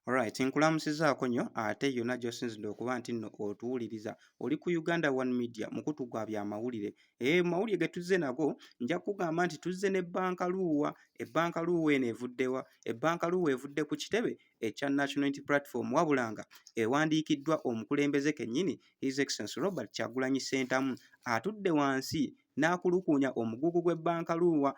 Alright, nkulamusizaako nnyo ate yonna gy'osinzidde okuba nti nno otuwuliriza. Oli ku Uganda One Media, mukutu gwa byamawulire. Ee, eh, mawulire ge tuzze nago, nja kugamba nti tuzze ne bbanka luuwa. Ebbanka luuwa eno evuddewa? Ebbanka luuwa evudde ku kitebe ekya National Unity Platform wabula nga ewandiikiddwa omukulembeze kennyini His Excellency Robert Kyagulanyi Ssentamu atudde wansi n'akulukuunya omugugu gw'ebbanka Luuwa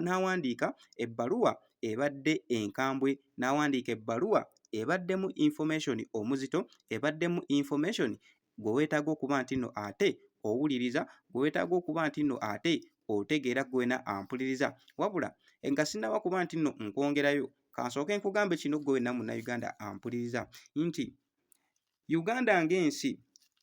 n'awandiika ebbaluwa ebadde enkambwe n'awandiika ebbaluwa ebaddemu information omuzito ebaddemu information gwe weetaaga okuba nti nno ate owuliriza gwe weetaaga okuba nti nno ate otegeera gwena ampuliriza wabula nga sinaba kuba nti nno nkwongerayo kansooke nkugambe kino gwe wenna munnayuganda ampuliriza nti Uganda ng'ensi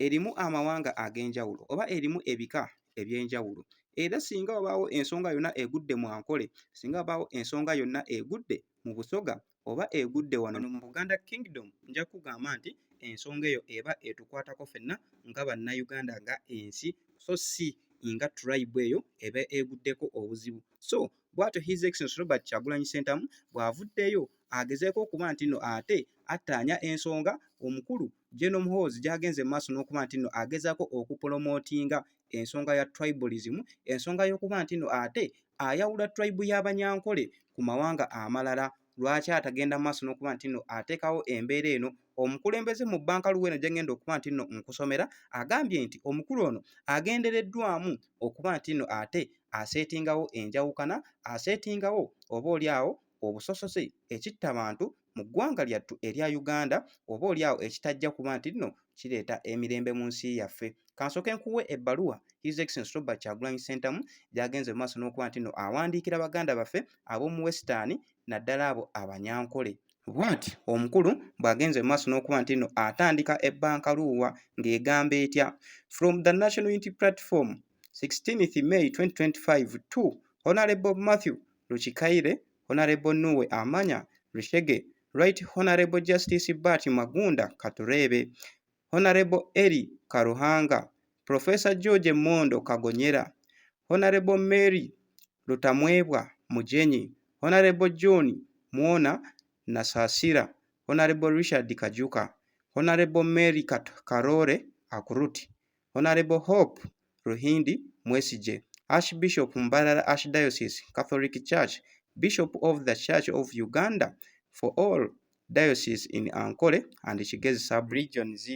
erimu amawanga ag'enjawulo oba erimu ebika eby'enjawulo era singa wabaawo ensonga yonna egudde mu Ankole, singa wabaawo ensonga yonna egudde mu Busoga oba egudde wano mu Buganda Kingdom, nja kukugamba nti ensonga eyo eba etukwatako ffenna nga Bannayuganda nga ensi so si nga tribe eyo eba eguddeko obuzibu. So Bwatyo His Excellency Robert Kyagulanyi Ssentamu bw'avuddeyo agezeeko okuba nti nno ate attaanya ensonga omukulu General Muhoozi gy'agenze mu maaso n'okuba nti nno agezaako okupolomootinga ensonga ya tribalism, ensonga y'okuba nti nno ate ayawula tribe y'Abanyankole ku mawanga amalala lwaki atagenda mu maaso n'okuba nti nno ateekawo embeera eno omukulembeze mu bbanka luweeno gyengenda okuba nti nno nkusomera agambye nti omukulu ono agendereddwamu okuba nti nno ate aseetingawo enjawukana aseetingawo oba oli awo obusosoze ekitta bantu mu ggwanga lyattu erya uganda oba oli awo ekitajja kuba nti nno kireeta emirembe mu nsi yaffe kansoke nkuwe ebbaluwa his excellence robert kyagulanyi sentamu gyagenze mu maaso n'okuba nti no awandiikira baganda baffe ab'omu wesitaani naddala abo abanyankole bwati omukulu bw'agenze mu maaso n'okuba nti no atandika ebbanka luuwa ng'egamba etya from the national unity platform 16 may 2025 to honorable matthew lukikaire Honorable Nuwe Amanya Rushege, Right Honorable Justice Bart Magunda Katureebe, Honorable Eli Karuhanga, Professor George Mondo Kagonyera, Honorable Mary Lutamwebwa Mujenyi, Honorable John Mwona Nasasira, Honorable Richard Kajuka, Honorable Mary Karore Akuruti, Honourable Hope Ruhindi Mwesigye, Archbishop Mbarara Archdiocese Catholic Church, Bishop of the Church of Uganda for all Diocese in Ankole and Kigezi Sub-Regions.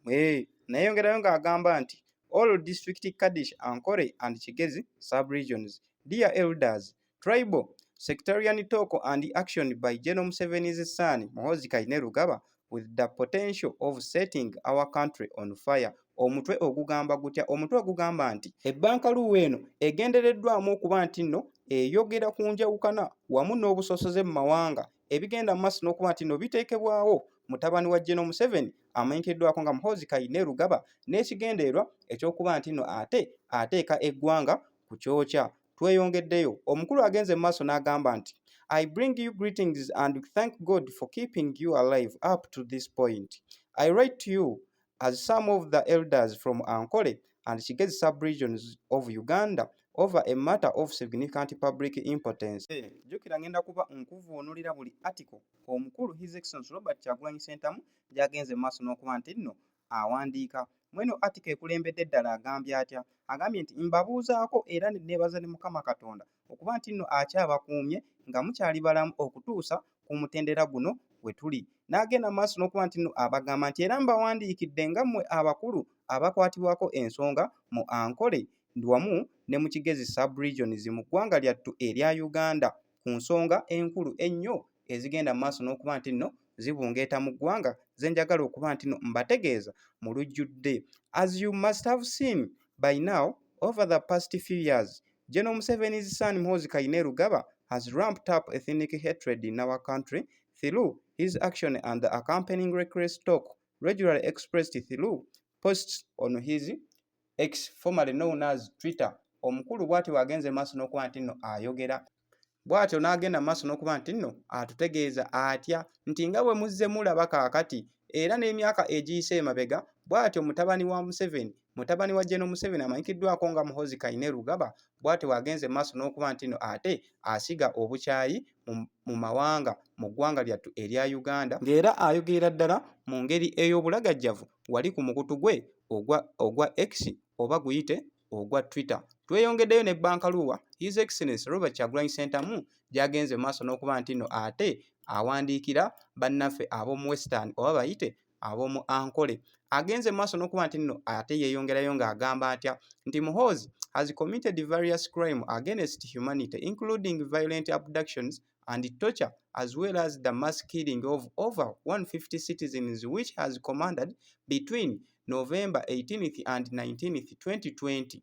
Hey, nayongerayo ng'agamba nti all district Kaddish Ankole and Kigezi Sub-Regions, dear elders, Tribal sectarian talk and action by General Museveni's son Muhoozi Kainerugaba with the potential of setting our country on fire omutwe ogugamba gutya omutwe ogugamba nti ebbanka luwa eno egendereddwamu okuba nti nno eyogera ku njawukana wamu n'obusosoze mu mawanga ebigenda maaso n'okuba nti nno biteekebwawo mutabani wa General Museveni amanyikiddwako nga Muhoozi Kainerugaba n'ekigendererwa ekyokuba nti nno ate ateeka eggwanga ku kyokya Tweyongeddeyo, omukulu agenze mu maaso n'agamba nti, I bring you greetings and thank God for keeping you alive up to this point. I write to you as some of the elders from Ankole and Kigezi sub-regions of Uganda over a matter of significant public importance. Hey, eh, jukira ngenda kuba nkuvuunulira buli article omukulu His Excellency Robert Kyagulanyi Ssentamu gyagenze mu maaso n'okuba nti nno awandiika. Mweno atika ekulembedde ddala agambye atya? Agambye nti mbabuuzaako era nebaza ne Mukama Katonda okuba nti nno akyabakuumye nga mukyali balamu okutuusa ku mutendera guno we tuli. N'agenda mu maaso n'okuba nti nno abagamba nti era mbawandiikidde nga mmwe abakulu abakwatibwako ensonga mu Ankole wamu ne mu Kigezi Sub-Regions mu ggwanga lyattu erya Uganda. ku nsonga enkulu ennyo ezigenda mu maaso n'okuba nti nno zibungeeta mu ggwanga ze njagala okuba nti nno mbategeeza mu lujjudde as you must have seen by now over the past few years General Museveni's son Muhoozi Kainerugaba has ramped up ethnic hatred in our country through his action and the accompanying reckless talk regularly expressed through posts on his X formerly known as Twitter omukulu bw'atyo bw'agenze mu maaso n'okuba nti nno ayogera bw'atyo n'agenda mu maaso n'okuba nti nno atutegeeza atya nti nga bwe muzze mulaba kaakati era n'emyaka egiyise emabega bw'atyo mutabani wa Museveni mutabani wa General Museveni amanyikiddwako nga Muhozi Kainerugaba bw'atyo bw'agenze mu maaso n'okuba nti nno ate asiga obukyayi mu mawanga mu ggwanga lyattu erya Uganda ng'era ayogerera ddala mu ngeri ey'obulagajjavu wali ku mukutu gwe ogwa ogwa X oba guyite ogwa Twitter. Tweyongeddeyo ne Bankaluwa His Excellency Robert Kyagulanyi Ssentamu gy'agenze mu maaso n'okuba nti nno ate awandiikira bannaffe ab'omu Western oba bayite ab'omu Ankole agenze mu maaso n'okuba nti nno ate yeeyongerayo ng'agamba atya nti Muhoozi has committed various crime against humanity including violent abductions and torture as well as the mass killing of over 150 citizens which has commanded between November 18th and 19th 2020.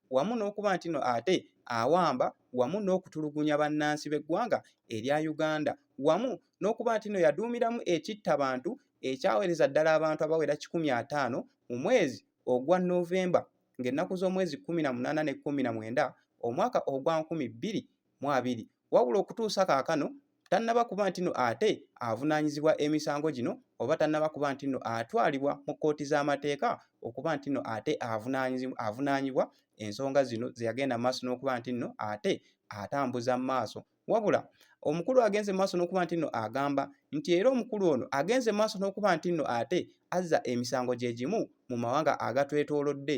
wamu n'okuba nti no ate awamba wamu n'okutulugunya bannansi b'eggwanga erya Uganda wamu n'okuba nti no yaduumiramu ekitta bantu ekyawereza ddala abantu abawera kikumi ataano mu mwezi ogwa November ng'ennaku z'omwezi kkumi na munaana ne kkumi na mwenda omwaka ogwa nkumi bbiri mu abiri wabula okutuusa kaakano tannaba kuba nti no ate avunaanyizibwa emisango gino oba tannaba kuba nti no atwalibwa mu kkooti z'amateeka okuba nti no ate avunaanyibwa ensonga zino ze yagenda mu maaso n'okuba nti no ate atambuza mu maaso wabula omukulu agenze mu maaso n'okuba nti no agamba nti era omukulu ono agenze mu maaso n'okuba nti no ate azza emisango gye gimu mu mawanga agatwetoolodde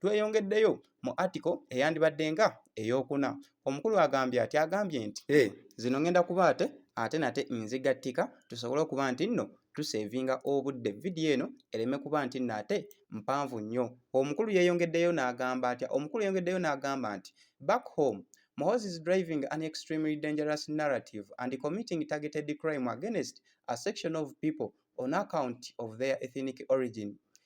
Tweyongeddeyo mu article eyandibadde nga eyokuna. Omukulu agambye ati agambye nti hey, eh, zino ngenda kuba ate ate nate nzigattika tusobole okuba nti nno tusevinga obudde vidiyo eno ereme kuba nti nno ate mpanvu nnyo. Omukulu yeyongeddeyo n'agamba atya? Omukulu yeyongeddeyo n'agamba nti back home Mohozi is driving an extremely dangerous narrative and committing targeted crime against a section of people on account of their ethnic origin.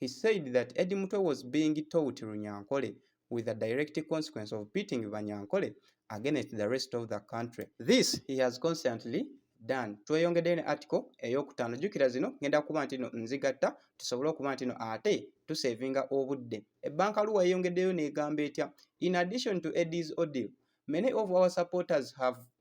He said that Eddie Mutwe was being taught Runyankole with the direct consequence of beating Banyankole against the rest of the country. This he has constantly done. Tweyongedde ne article ey'okutaano. Jjukira zino ngenda kuba nti no nzigatta tusobole okuba nti no ate tusevinga obudde. Ebbanka Luwa yeyongeddeyo n'egamba etya? In addition to Eddie's ordeal, many of our supporters have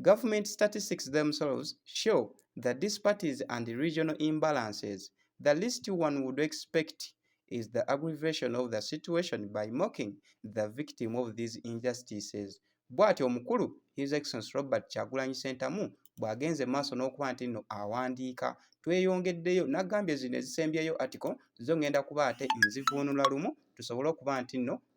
Government statistics themselves show the disparities and regional imbalances. The least one would expect is the aggravation of the situation by mocking the victim of these injustices. Bwati omukulu His Excellency Robert Kyagulanyi Ssentamu bw'agenze maaso n'okuba nti nno awandiika tweyongeddeyo n'agambye zino ezisembyeyo article zo ngenda kuba ate nzivuunula lumu tusobole okuba nti nno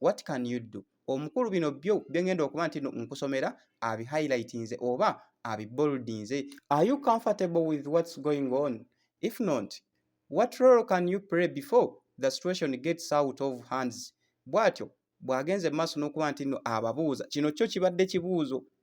what can you do omukulu bino byo byengenda okuba nti nkusomera abi highlightinze oba abi boldinze are you comfortable with what's going on if not what role can you play before the situation gets out of hands bwatyo bwagenze maaso nokuba nti no ababuuza kino kyo kibadde kibuuzo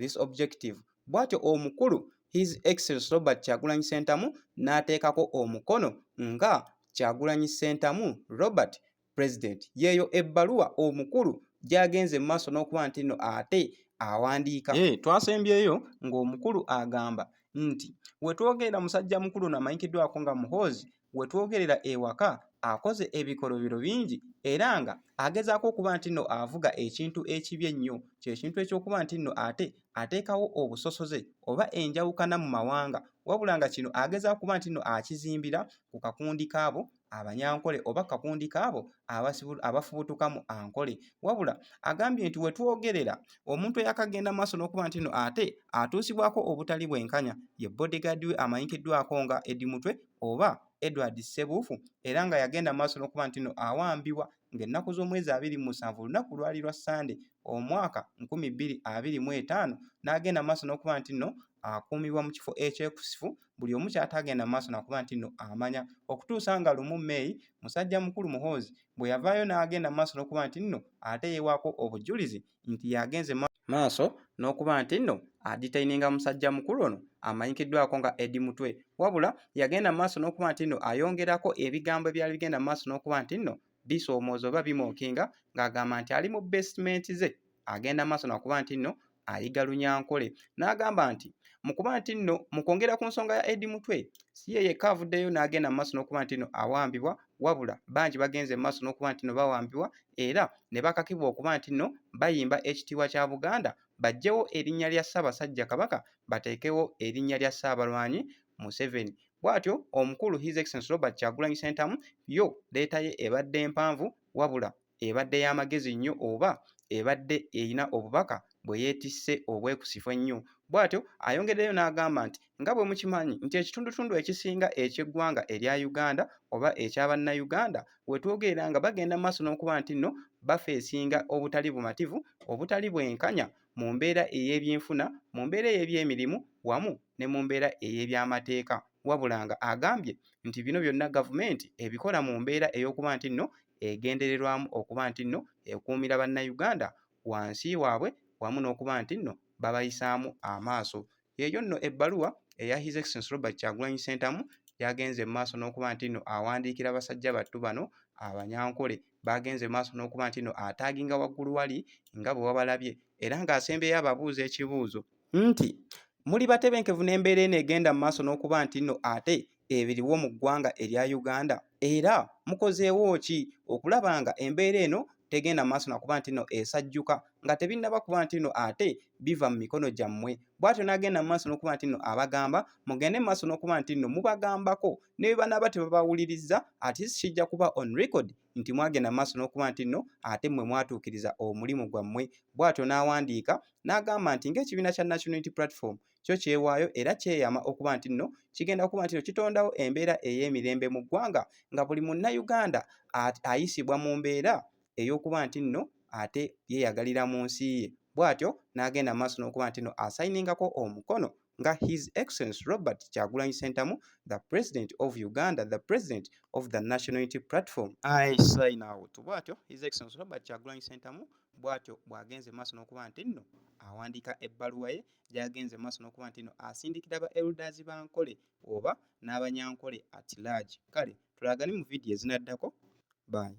this objective bwatyo omukulu his excellence robert kyagulanyi sentamu n'ateekako omukono nga kyagulanyi sentamu robert president yeeyo ebbaluwa omukulu gyagenze mu maaso n'okuba nti nno ate awandiika hey, eh, twasembyeyo ng'omukulu agamba nti wetwogerera musajja mukulu namanyikiddwako nga muhoozi we twogerera ewaka akoze ebikolobero bingi era nga agezaako okuba nti nno avuga ekintu ekibi ennyo kye kintu ekyokuba nti nno ate ateekawo obusosoze oba enjawukana mu mawanga wabula nga kino ageza okuba nti nno akizimbira ku kakundi kaabo abanyankole oba kakundi kaabo abafubutuka mu ankole wabula agambye nti wetwogerera omuntu eyakagenda maaso n'okuba nti nno ate atuusibwako obutali bwenkanya ye bodyguard we amanyikiddwako nga edi mutwe oba Edward Ssebuufu era nga yagenda maaso n'okuba nti no awambibwa ng'ennaku z'omwezi abiri mu musanvu olunaku lwali lwa Ssande omwaka nkumi bbiri abiri mu etaano n'agenda maaso n'okuba nti no akuumibwa mu kifo ekyekusifu buli omu kyataagenda maaso nakuba nti no amanya okutuusa nga lumu May musajja mukulu Muhoozi bwe yavaayo n'agenda maaso n'okuba nti no ate yewaako obujulizi nti yagenze maaso n'okuba nti nno aditaininga musajja mukulu ono amanyikiddwako nga Edi Mutwe wabula yagenda mu maaso n'okuba nti nno ayongerako ebigambo ebyali bigenda mu maaso n'okuba nti nno bisoomooza oba bimookinga ng'agamba nti ali mu besimenti ze agenda mu maaso nakuba nti nno ayiga lunyankole n'agamba nti mu kuba nti nno mu kwongera ku nsonga ya Edi Mutwe si ye yekka avuddeyo n'agenda mu maaso n'okuba nti nno awambibwa wabula bangi bagenze mu maaso n'okuba nti nno bawambibwa era ne bakakibwa okuba nti nno bayimba ekitiibwa kya Buganda baggyewo erinnya lya Ssaabasajja Kabaka bateekewo erinnya lya Ssaabalwanyi Museveni. Bwatyo omukulu His Excellency Robert Kyagulanyi Ssentamu yo leeta ye ebadde mpanvu wabula ebadde ya magezi nnyo oba ebadde erina obubaka bwe yeetisse obwekusifu ennyo. Bwatyo ayongedeyo n'agamba nti Nga bwe mukimanyi nti ekitundutundu ekisinga eky'eggwanga erya Uganda oba ekya Bannayuganda we twogerera nga bagenda mu maaso n'okuba nti nno bafeesinga obutali bumativu, obutali bwenkanya mu mbeera ey'ebyenfuna, mu mbeera ey'ebyemirimu wamu ne mu mbeera ey'ebyamateeka wabula nga agambye nti bino byonna gavumenti ebikola mu mbeera ey'okuba nti nno egendererwamu okuba nti nno ekuumira Bannayuganda wansi waabwe wamu n'okuba nti nno babayisaamu amaaso. Yeeyo nno ebbaluwa eya His Excellency Robert Kyagulanyi Ssentamu yagenze mu maaso n'okuba nti no awandiikira basajja battu bano abanyankole baagenze mu maaso n'okuba nti no ataaginga waggulu wali nga bwe wabalabye era ng'asembyeyo ababuuza ekibuuzo nti muli batebenkevu n'embeera eno egenda mu maaso n'okuba nti no ate ebiriwo mu ggwanga erya Uganda era mukozeewo ki okulaba nga embeera eno tegenda maaso nakuba nti no esajjuka nga tebinnaba kuba nti no ate biva mu mikono gyammwe bwatyo n'agenda mu maaso n'okuba nti no abagamba mugende mu maaso n'okuba nti no mubagambako ne bwe banaaba tebabawuliriza ati kijja kuba on record nti mwagenda mu maaso n'okuba nti no ate mmwe mwatuukiriza omulimu gwammwe bwatyo n'awandiika n'agamba nti ng'ekibiina kya national unity platform kyo kyewaayo era kyeyama okuba nti nno kigenda okuba nti no kitondawo embeera ey'emirembe mu ggwanga nga buli munnayuganda ayisibwa mu mbeera ey'okuba nti nno ate yeeyagalira mu nsi ye bw'atyo n'agenda mu maaso n'okuba nti no asayiningako omukono nga his excellence robert kyagulanyi sentamu the president of uganda the president of the national unity platform i sign out bw'atyo his excellence robert kyagulanyi sentamu bw'atyo bw'agenze mu maaso n'okuba nti nno awandiika ebbaluwa ye gyagenze mu maaso n'okuba nti no asindikira ba elders ba Nkole oba n'abanyankole at large. Kale tulagane mu vidiyo ezinaddako. Bye.